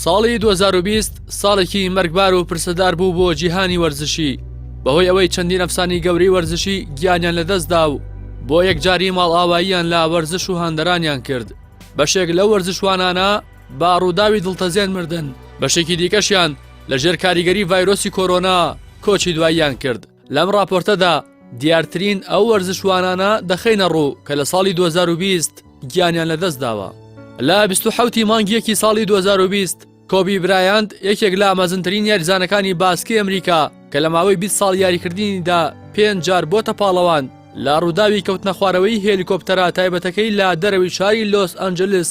ساڵی 2020 ساڵێکی مەرگبار و پرسەدار بوو بۆ جیهانی وەرزشی بەهۆی ئەوەی چەندین ئەفسانی گەورەی وەرزشی گیانیان لەدەستدا و بۆ یەکجاری ماڵئاواییان لە وەرزش و هاندەرانیان کرد بەشێک لە وەرزشوانانە با ڕووداوی دڵتەزێن مردن بەشێکی دیکەشیان لە ژێر کاریگەری ڤایرۆسی کۆرۆنا کۆچی دواییان کرد لەم ڕاپۆرتەدا دیارترین ئەو وەرزشوانانە دەخەینە ڕوو کە لە ساڵی 2020 گیانیان لەدەست داوە. لە 27 ی مانگی یەکی ساڵی 2020 کۆبی برایاند یەکێک لە مەزنترین یاریزانەکانی باسکی ئەمریکا کە لە ماوەی 20 ساڵ یاریکردنیدا پێنج جار بۆتە پاڵەوان لە ڕووداوی کەوتنەخوارەوەی هێلیکۆپتەرە تایبەتەکەی لە دەرەوەی شاری لۆس ئەنجلس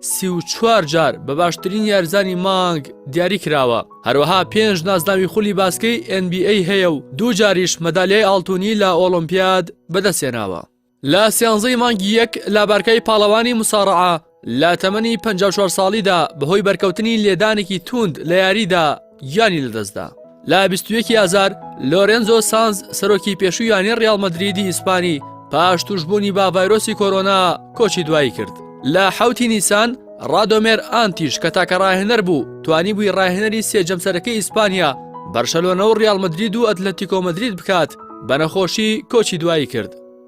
سی و چوار جار بە باشترین یارزانی مانگ دیاری کراوە هەروەها پێنج نازناوی خولی باسکەی NBA هەیە و دوو جاریش مەدالیای ئاڵتونی لە ئۆلمپیاد بەدەستێناوە لە سیانزەی مانگی یەک لابارکای پاڵەوانی مساڕعە لە تەمەنی 54 ساڵیدا بەهۆی بەرکەوتنی لێدانێکی توند لە یاریدا گیانی لەدەستدا. لە بیست و یەکی ئازار لۆرێنزۆ سانز سەرۆکی پێشووی یانەی ڕیاڵ مەدریدی ئیسپانی پاش تووشبوونی بە ڤایرۆسی کۆرۆنا کۆچی دوایی کرد. لە حەوتی نیسان ڕادۆمێر ئانتیش کە تاکە ڕاهێنەر بوو توانی بووی ڕاهێنەری سێ جەمسەرەکەی ئیسپانیا بەرشەلۆنە و ڕیاڵ مەدرید و ئەتلەتیکۆ مەدرید بکات بە نەخۆشی کۆچی دوایی کرد.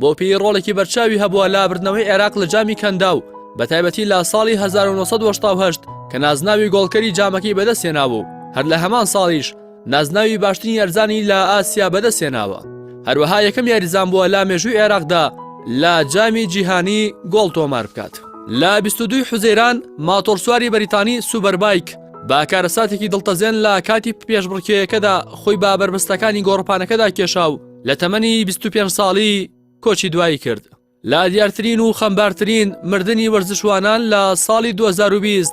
بۆپیی ڕۆڵێکی بەرچاوی هەبووە لە بردنەوەی عێراق لە جامی کەنداو، بەتایبەتی لە ساڵی 1970 کە نازناوی گۆڵکەری جامەکەی بەدەستهێناوە و هەر لە هەمان ساڵیش نازناوی باشترین یارزانی لە ئاسیا بەدەستهێناوە هەروەها یەکەم یاریزان بووە لە مێژووی عێراقدا لە جامی جیهانی گۆڵ تۆمار بکات. لە 22 حوزەیران ماتۆڕسواری بەریتانی سوبەربایک با کارەساتێکی دڵتەزێن لە کاتی پێشبڕکێیەکەدا خۆی با بەربەستەکانی گۆڕپانەکەدا کێشا و لە تەمەنی 25 ساڵی کۆچی دوایی کرد لە دیارترین و خەمبارترین مردنی وەرزشوانان لە ساڵی 2020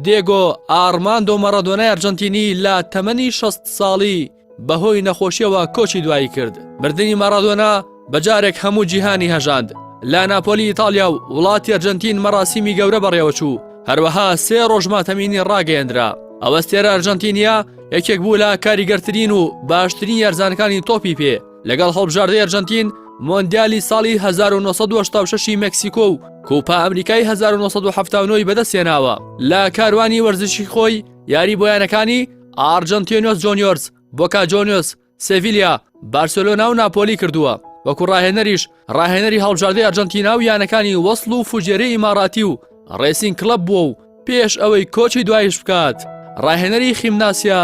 دێگۆ ئارماندۆ مەڕەدۆنای ئەرجەنتینی لە تەمەنی 6 ساڵی بەهۆی نەخۆشیەوە کۆچی دوایی کرد مردنی مەڕادۆنا بەجارێک هەموو جیهانی هەژاند لە ناپۆلی ئیتالیا و وڵاتی ئەرجەنتین مەراسیمی گەورە بەڕێوەچوو هەروەها سێ ڕۆژماتەمینی ڕاگەیەندرا ئەوەستێرە ئەرجەنتینیا یەکێک بوو لە کاریگەرترین و باشترین یارزانەکانی تۆپی پێ لەگەڵ هەڵبژاردەی ئەرجەنتین مۆندیالی ساڵی 1970 مکسیکۆ و کوپا ئەمریکای 1970ەوەی بەدەستێناوە لە کاروانی وەرزشی خۆی یاری بۆیانەکانی ئارجنتینۆس جۆنیۆرس بۆکا جۆنیۆس سێڤیلیا، بارسێلۆنا و ناپۆلی کردووە، وەکو راهێنەریش راهێنەری هەڵبژاردەی ئەرجەنتینا و یانەکانی وەسڵ و فوجێرەی ئیماراتی و رێسینگ کڵەب بووە و پێش ئەوەی کۆچی دواییش بکات راهێنەری خیمناسیا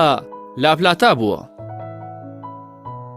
لاپلاتا بووە.